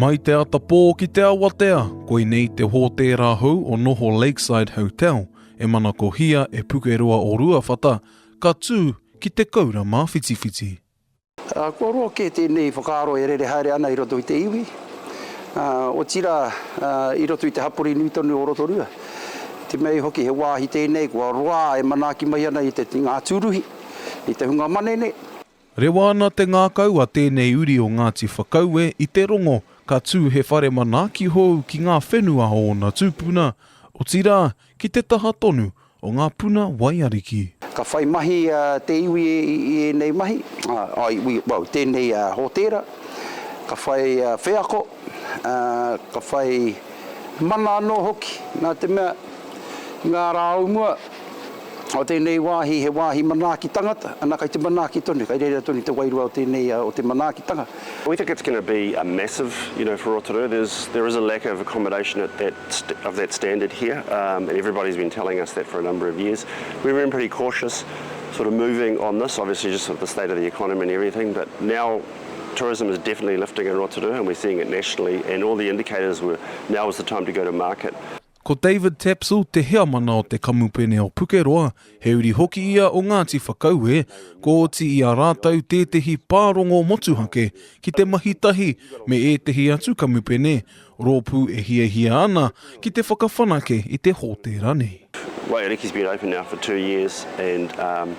Mai te atapō ki te awatea, koinei te hōtēra hou o Noho Lakeside Hotel e manakohia e Pukeroa o Ruawhata ka tū ki Te Koura Māwhitiwhiti. Kua roa kē tēnei whakaaro e rere haere ana i roto i te iwi, ā, otirā, ā, i roto i te hapori nui tonu o Rotorua. Te mea hoki he wāhi tēnei kua roa e manaaki mai ana i te, i ngā tūruhi, i te hunga manene. Rewa ana te ngākau a tēnei uri o Ngāti Whakaue i te rongo ka tū he whare manaaki hou ki ngā whenua o ōna tūpuna, otirā, ki te taha tonu o ngā puna waiariki. Ka whai mahi te iwi i ēnei mahi, well, tēnei hōtēra, ka whai wheako, ka whai mana anō hoki, nā te mea, i ngā rā o mua, o tēnei wāhi, he wāhi manaaki tangata, ana kai te manaaki tonu, kai reira tonu te wairua o tēnei, o te manaakitanga. We think it's going to be a massive, you know, for Rotorua. There's, there is a lack of accommodation at that of that standard here, um, and everybody's been telling us that for a number of years. We've been pretty cautious, sort of moving on this, obviously just with the state of the economy and everything, but now tourism is definitely lifting in Rotorua and we're seeing it nationally and all the indicators were now is the time to go to market. Ko David Tapsell te heamana o te kamupene o Pukeroa, he uri hoki ia o Ngāti Whakaue, ko oti i a rātou tētehi pārongo motuhake ki te mahi tahi me ētehi atu kamupene Rōpū e hiahia ana ki te whakawhanake i te hōtēra nei. Waiariki's been open now for two years and um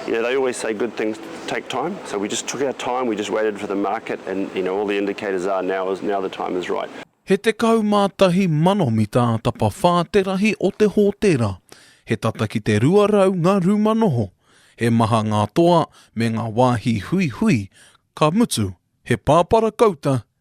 you know they always say good things take time so we just took our time we just waited for the market and you know all the indicators are now is now the time is right. He tekau mā tahi mano mita tapawhā te rahi o te hōtēra, he tata ki te rua rau ngā rūma noho, he maha ngā toa me ngā wāhi huihui, ka mutu, he pāpara kouta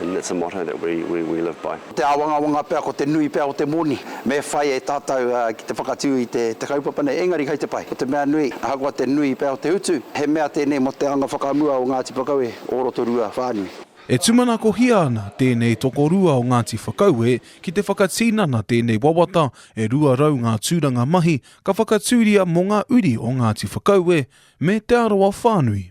And that's a motto that we we we live by. Te āwangawanga pea ko te nui pea o te moni me whai e tātou ki te whakatū i te te kaupapa nei, engari kei te pai. Ko te mea nui, ahakoa te nui pea o te utu, he mea tēnei mō te anga whakamua o Ngāti Whakaue o Rotorua whānui. E tūmanakohia ana tēnei tokorua o Ngāti Whakaue ki te whakatinana tēnei wawata e 200 ngā tūranga mahi ka whakatūria mō ngā uri o Ngāti Whakaue me Te Arawa whānui.